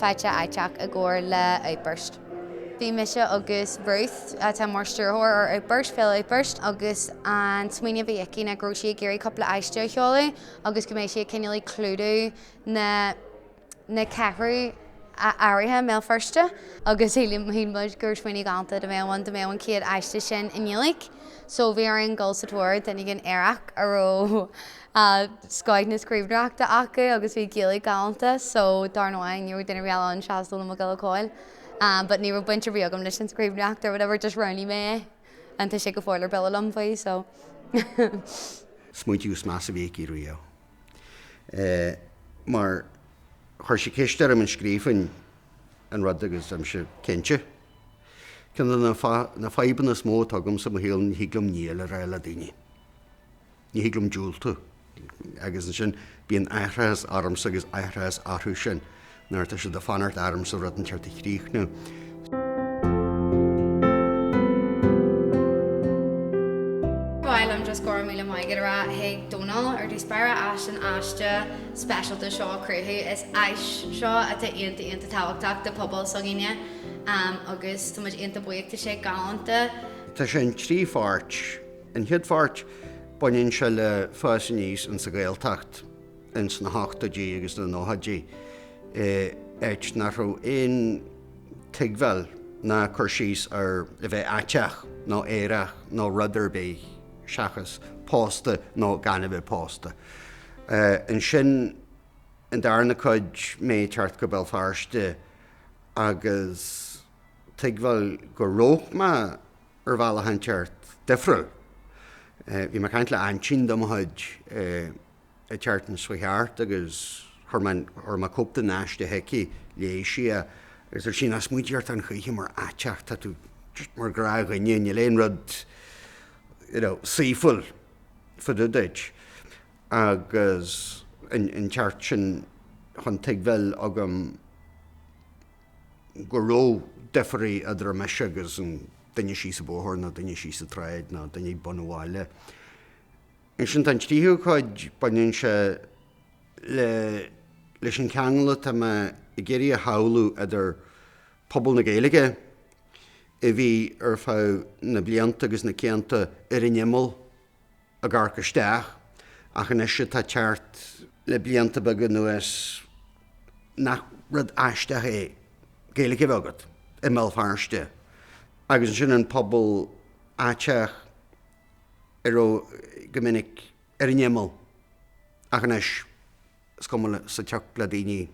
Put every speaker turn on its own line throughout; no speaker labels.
Faiteach Aiteach i gcomhar le Outburst. Bhí mise agus Ruth, atá mar stiúrthóir ar Outburst, Féile Outburst, agus an smaoineamh a bhí aici ná go raibh sí ag iarraidh cúpla aiste a sheoladh agus go mbeadh sí ag cineál ag clúdú na na ceathrú aeracha i mBéal Feirste agus shíl muid gur smaoineamh galánta a bheadh ann dá mbeadh an chéad aiste sin i nGaeilge so bhí orainn dul sa tóir duine éigin aerach a raibh scoth na scríbhneoireachta acu agus bhí Gaeilge galánta so dar ndóigh ní raibh duine ar bith eile ann seachas Dónall Mac Giolla Chóill but ní raibh baint ar bith agam leis an scríbhneoireacht or whatever just roghnaigh mé é and tá sé go fóill ar buile liom faoi so. smaointiú
is measa a bhí aici riamh mar chuir sí ceist orm an scríobfainn an rud agus tá mise cinnte. Ceann de na fadhbanna is mó atá agamsa i mo shaol ní thig liom 'níl' a rá le daoine. Ní thig liom diúltú. Agus ansin bíonn aithreachas ormsa agus aithreachas orthu sin nuair atá siad ag fanacht ormsa rud inteacht a chríochnú. Ba
mhaith liom just go raibh míle maith agat a rá chuig Dónall ar dtús báire as an aiste speisialta seo a chruthú. Is áis seo atá iontach, iontach tábhachtach do phobal s'againne agus táimid iontach buíoch, tá sé galánta. Tá sé in trí
pháirt. An chéad pháirt, baineann sé le fás aníos insa Ghaeltacht ins na hochtóidí agus na nóchaidí, áit nach raibh aon tuigbheáil ná cur síos ar a bheith aiteach nó aerach nó rud ar bith seachas pósta nó gan a bheith pósta. Ansin, an darna cuid, mé ag teacht go Béal Feirste agus tuigbheáil go raibh mé, ar bhealach inteacht difriúil. Bhí mé ag caint le aintín de mo chuid atá thart ansiúd thart agus chuir mé cóip den aiste chuici, léigh sí é agus arsa sí ní smaointím ort a choíche mar aiteach, tá tú mar ghnáthdhuine, níl aon rud you know saoithiúil fá dtaobh duit agus leithéid sin chan tuigbheáil agam. go raibh difear idir mise agus an duine síos an bóthar, nó duine síos an tsráid, nó duine ag bun an bhaile. Ansin tá an tríú cuid, baineann sé le, leis an cheangal atá mé ag iarraidh a shamhlú idir pobal na Gaeilge a bhí ar feadh na blianta agus na cianta ar an imeall, ag amharc isteach, ach anois atá teacht le blianta beaga anuas, nach rud aisteach é Gaeilge a bheith agat i mBéal Feirste agus ansin an pobal aiteach a raibh go minic ar an imeall ach anois is cuma sa tsioc le daoine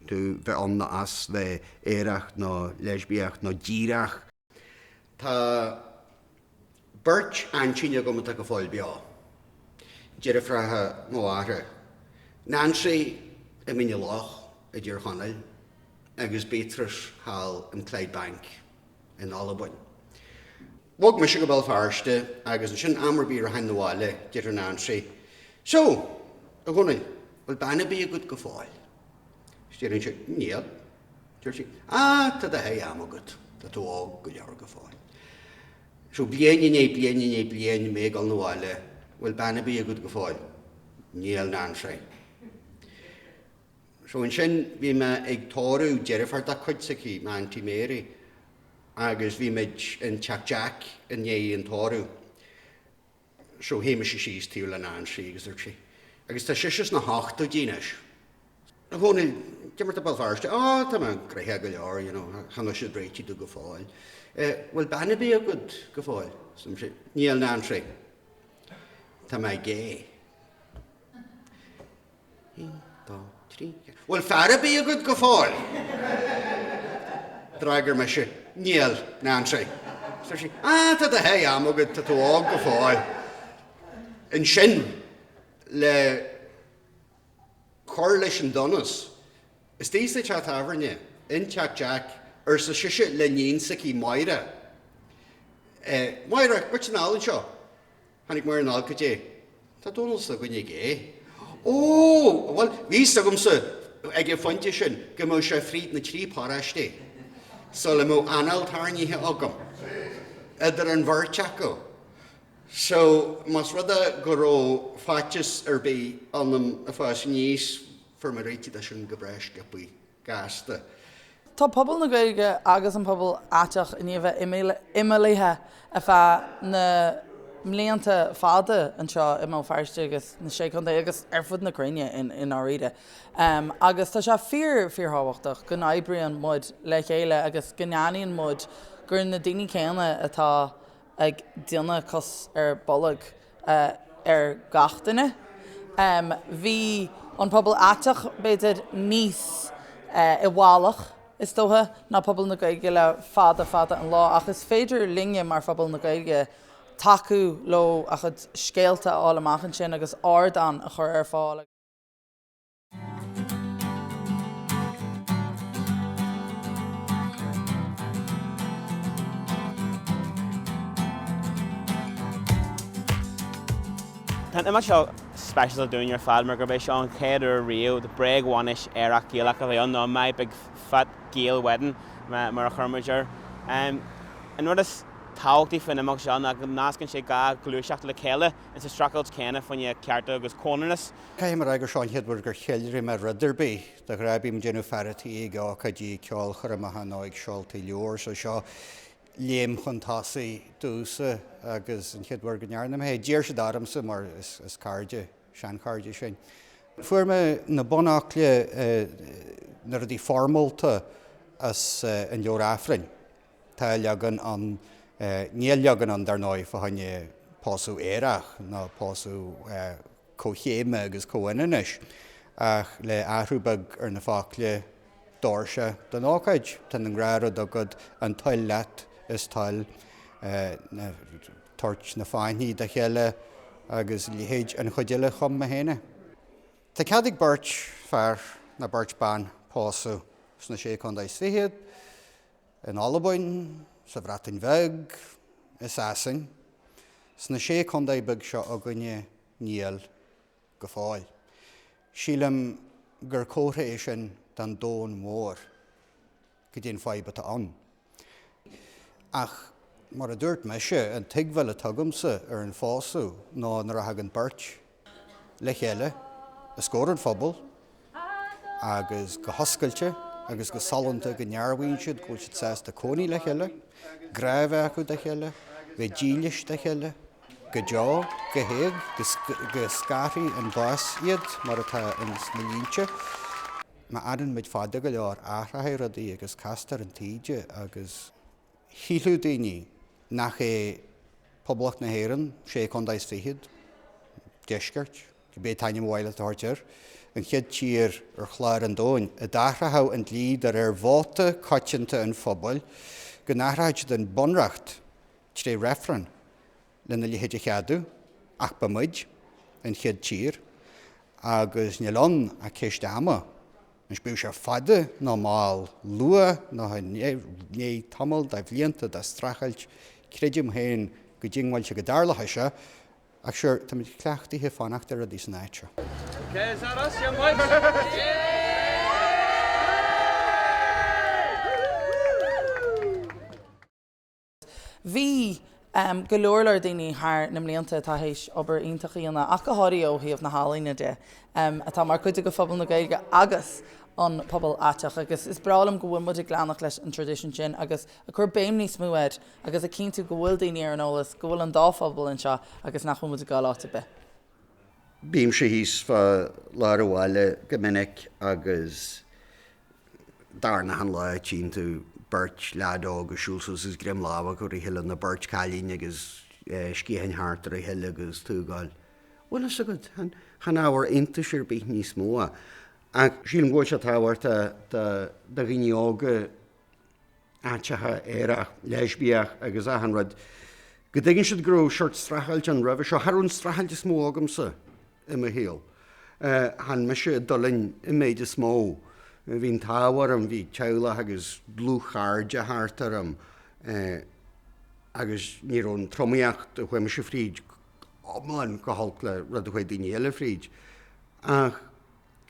tú bheith ann nó as, bheith aerach nó leisbiach nó díreach. Tá beirt aintíní agam atá go fóill beo, deirfiúracha mo mháthara, Nancy i Mín a' Loch i dTír Chonaill agus Beatrice thall in Clydebank in Albain. Bhog mise go Béal Feirste agus ansin am ar bith rachainn 'na bhaile, déarfadh Nancy, So, a Dhónaill, bhfuil bean ar bith agat go fóill? Is déarfainnse, níl. Deir sí, Á, tá do sháith ama agat, tá tú óg go leor go fóill. So, bliain i ndiaidh bliana i ndiaidh bliain, mé ag dul 'na bhaile, an bhfuil bean ar bith agat go fóill? Níl, Nancy. So, ansin, bhí mé ag tórramh deirfiúr dá cuid s'aici, m'Aunty Mary, agus bhí muid in Teach Jack i ndiaidh an tórraimh. So shuigh mise síos taobh le Nancy agus dúirt sí, Agus tá sise sna hochtóidí anois. A Dhónaill, goidé mar atá Béal Feirste? Á, tá mé gnoitheach go leor, you know, chan fhuil siad réitigh domh go fóill. Eh, bhfuil bean ar bith agat go fóill? Arsa mise, Níl, Nancy. Tá mé gay. Aon, dó, trí, ceathair. Bhfuil fear ar bith agat go fóill? D'fhreagair mise, Níl, Nancy. Dúirt sí, Á, tá do sháith ama agat, tá tú óg go fóill. Ansin, le cur leis an donas, istigh sa teach tábhairne, in Teach Jack, arsa sise le iníon s'aici, Máire. Máire, goitse anall anseo. Tháinig Máire anall. Goidé? Tá Dónall s'againne gay. Ó! Bhuel, bhí 'fhios agamsa ag an phointe sin go mbeadh sé fríd na trí paróistí sula mbeadh anáil tairnighe agam idir an bheirt acu so más rud é go raibh faitíos ar bith ionam ag fás aníos fuair mé réitigh de sin go breá sciopthaí. gasta. Tá
pobal na Gaeilge agus an pobal aiteach i ndiaidh bheith imeallaithe ar feadh na mblianta fada anseo i mBéal Feirste agus na Sé Chontae agus ar fud na cruinne i ndáiríre agus tá sé fíor, fíorthábhachtach go n-oibríonn muid le chéile agus go n-aithníonn muid gur na daoine céanna atá ag déanamh cos ar bolg ar gach duine. Bhí an pobal aiteach, b'fhéidir, níos i bhfalach, is dócha, ná pobal na Gaeilge le fada fada an lá, ach is féidir linne, mar phobal na Gaeilge, tacú leo, a gcuid scéalta a fháil amach ansin agus ardán a chur ar fáil.
Tá an imeacht seo speisialta dúinn ar fad mar gurb é seo an chéad uair riamh do bréag-bhainis aerach Gaelach a bheith ann, nó My Big Fat Gael Wedding mar a chuir muid air. An rud is tábhachtaí faoin imeacht seo ná go nascann sé dhá ghluaiseacht le chéile ins an streachailt chéanna fá choinne cearta agus comhionannas. Caithfidh mé a rá gur seo
an chéad uair gur cheiliúraigh mé rud ar bith. De ghnáth bím ag déanamh fear an tí ag ócáidí ceolchoirmeacha nó ag seoltaí leabhar, so seo léim chun tosaigh domhsa agus an chéad uair go ndearna mé é. D'iarr siad ormsa mar is cairde, seanchairde sinn. Fuair mé na bunfhocla, na rudaí foirmeálta as an leabhar Aifrinn. Tá leagan ann, níl leagan ann dar ndóigh fá choinne pósadh aerach ná pósadh comhchéime agus comhionannais, ach le athrú beag ar na focla, d'fhóir sé don ócáid, tá an gnáthrud agat, an toil leat is toil, tabhairt na fáinní dá chéile agus a leithéid. An chuid eile chum mé fhéin é. Tá cead ag beirt fear nó beirt ban pósadh sna Sé Contae is Fichead, in Albain, sa Bhreatain Bheag, i Sasain, sna sé contae beag seo againne, níl go fóill. Sílim gur comhartha é sin don domhan mhór caidé an fhadhb atá ann. Ach mar a dúirt mise, an tuigbheáil atá agamsa ar an phósadh ná nuair a thagann beirt le chéile os comhair an phobail agus go hoscailte agus go sollúnta go ndearbhaíonn siad go bhfuil siad sásta cónaí le chéile, grá a bheith acu dá chéile, bheith dílis dá chéile go deo, go héag, go scarfaidh an bás iad mar atá ins na línte Má fhanann muid fada go leor athróidh rudaí agus castar an taoide agus. Shílfeadh daoine nach é Poblacht na hÉireann, sé contae is fichead, deisceart, cibé an t-ainm ab áil leat a thabhairt air, an chéad tír ar chlár an domhain a d'athródh an dlí de réir vóta coitianta an phobail go n-athródh siad an bunreacht tré reifreann. lena leithéid a cheadú, ach ba muid an chéad tír, agus níl ann ach ceist ama, anois bíodh sé fada nó mall, luath nó i ndiaidh tamall de bhlianta de streachailt, creidim féin go diongbháilte go dtarlóidh seo, ach sure, táimid cleachtaithe fanacht ar rudaí san
áit seo.
Bhí go leor leor daoine thar na mblianta atá théis obair iontach a dhéanamh, ach go háirithe ó thaobh na healaíne de, atá mar chuid de phobal na Gaeilge agus an pobal aiteach agus is breá liom go bhfuil muid ag leanacht leis an traidisiún sin agus ag cur béim níos mó air agus ag cinntiú go bhfuil daoine ar an eolas go bhfuil an dá phobal anseo agus nach bhfuil muid ag dul áit ar bith.
Bímse thíos fá lár an bhaile go minic agus dar ndóigh an lá a tchíonn tú beirt leaid óg ag siúl suas is greim láimhe acu ar a chéile nó beirt chailín agus sciatháin thart ar a chéile agus tú ag gabháil, bhfuil fhios agat, chan ábhar iontais ar bith níos mó é. Ach sílim go bhfuil sé tábhachtach do dhaoine óga. aiteacha, aerach, leispiach agus achan rud, go dtuigeann siad go raibh seort streachailt ann roimhe seo. Cha raibh an streachailt is mó agamsa i mo shaol. Chan mise a d'fhulaing an méid is mó. Bhí an t-ádh orm, bhí teaghlach agus dlúthchairde thart orm agus ní raibh an tromaíocht a chuaigh mise fríd iomlán chomh holc le rud a chuaigh daoine eile fríd. Ach.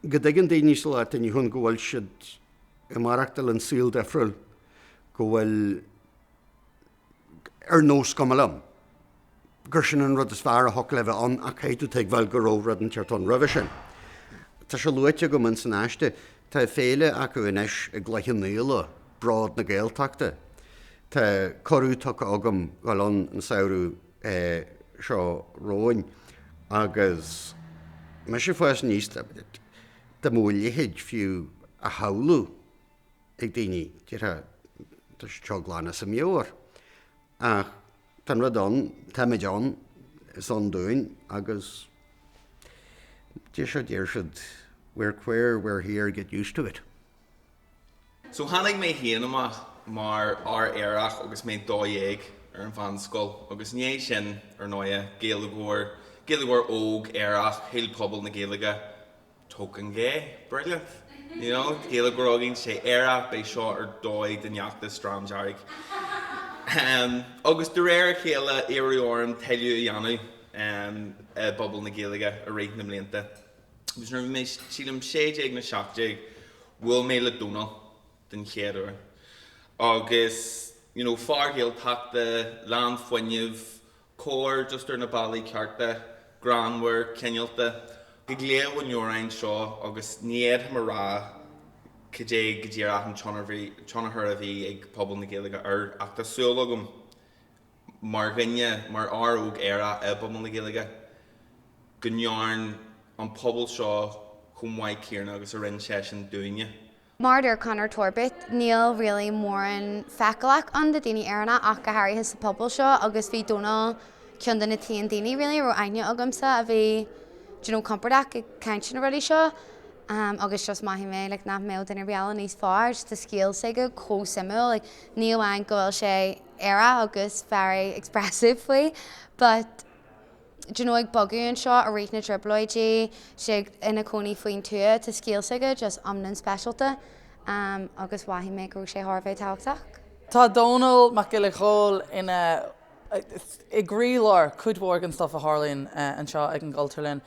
go dtuigeann daoine sa lá atá inniu ann go bhfuil siad ag maireachtáil i saol difriúil, go bhfuil ar nós cuma liom, gur sin an rud is fearr a thiocfadh le bheith ann ach caithfidh tú tuigbheáil go raibh rud inteacht ann roimhe sin. Tá sé luaite agam in san aiste, tá féile acu anois i gCloich Naola, Bród na Gaeltachta. Tá cuireadh tugtha agam dul ann an samhradh. seo romhainn agus mise ag fás aníos dá mbeadh a leithéid fiú á shamhlú ag daoine, déarfá, tá seo glan as a meabhair. Ach tá an rud ann, táimid ann, is ann dúinn agus deir siad, deir siad, we're queer, we're here, get used to it.
So tháinig mé féin amach mar fhear aerach agus mé dó dhéag ar an mheánscoil agus i ndiaidh sin, ar ndóighe, Gaeilgeoir, Gaeilgeoir óg, aerach, shíl pobal na Gaeilge, token gay, brilliant, you know, Gaeilgeoir óg againn, sé aerach, beidh seo ar dóigh den Dream Dearg. Ahem, agus de réir a chéile, iarradh orm tuilleadh a dhéanamh i bpobal na Gaeilge i rith na mblianta. Agus nuair a bhí mé, sílim, sé déag nó seacht déag, bhuail mé le Dónall den chéad uair. Agus, you know, fear Gaeltachta, lán fuinnimh, cóir just ar na bealaí cearta, greannmhar, cineálta. Ag léamh an leabhráin seo, agus ní fhéadfainn a rá cad é go díreach an tionchar a bhí ag pobal na Gaeilge air, ach tá súil agam, mar dhuine, mar fhear óg aerach i bpobal na Gaeilge, go ndearn an pobal seo maith dó chomh maith céanna agus a rinne seisean dúinne. Mar a deir Conor
Torbitt, níl really mórán feiceálach ann de daoine aeracha ach go háirithe sa phobal seo agus bhí Dónall ceann de na t-aon daoine really a raibh aithne agamsa a bhí do you know compordach ag caint ar na rudaí seo agus just mhothaigh mé like nach mbeadh duine ar bith eile níos fearr, just tá scéal s'aige chomh suimiúil like ní amháin go bhfuil sé. aerach agus very expressive faoi. But d'you know ag bogadh anseo i rith na dTrioblóidí, as a chónaí faoin tuath, tá scéal s'aige just iomlan speisialta agus mhothaigh mé go raibh sé thar a bheith tábhachtach. Tá
Dónall Mac Giolla Chóill ina, i gcroílár cuid mhór den stuff a tharlaíonn anseo ag an gCultúrlann.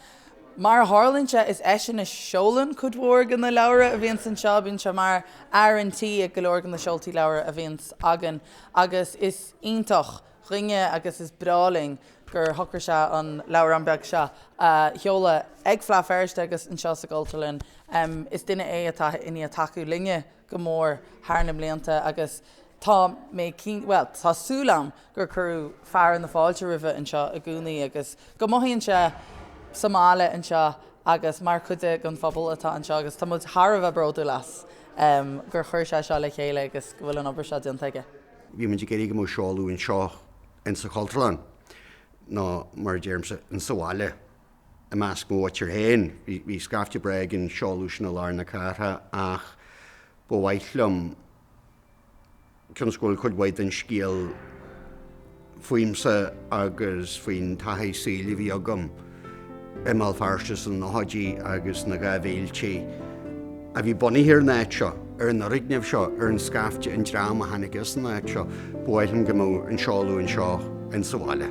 Mar a tharlaíonn sé, is eisean a sheolann cuid mhór de na leabhra a bhíonns anseo. Bíonn sé mar fhear an tí ag go leor de na seoltaí leabhar a bhíonns againn agus is iontach dúinne agus is breá linn gur shocraigh sé an leabhrán beag seo a sheoladh ag Fleadh Feirste agus anseo sa gCultúrlann. Is duine é atá i ndiaidh tacú linne go mór thar na mblianta agus tá mé cinnte, bhuel, tá súil agam gur cuireadh fearadh na fáilte roimhe anseo i gcónaí agus go mothaíonn sé sa mbaile anseo agus mar chuid den phobal atá anseo agus tá muid thar a bheith bródúil as gur chuir sé seo le chéile agus go bhfuil an obair seo déanta aige. Bhí muid ag iarraidh go
mbeadh seoladh anseo in sa Chultúrlann nó mar a deirimse, in sa bhaile. I measc mo mhuintir féin, bhí scaifte breá ag an seoladh sin i lár na cathrach, ach ba mhaith liom cionn is go bhfuil cuid mhaith den scéal fúmsa agus faoin taithí saoil a bhí agam i mBéal Feirste sna nóchaidí agus sna dhá mhíltí, a bhí bunaithe ar an áit seo, ar an fhoirgneamh seo, ar an scaifte, an dream a tháinig as an áit seo, ba mhaith liom go mbeadh an seoladh anseo insa bhaile.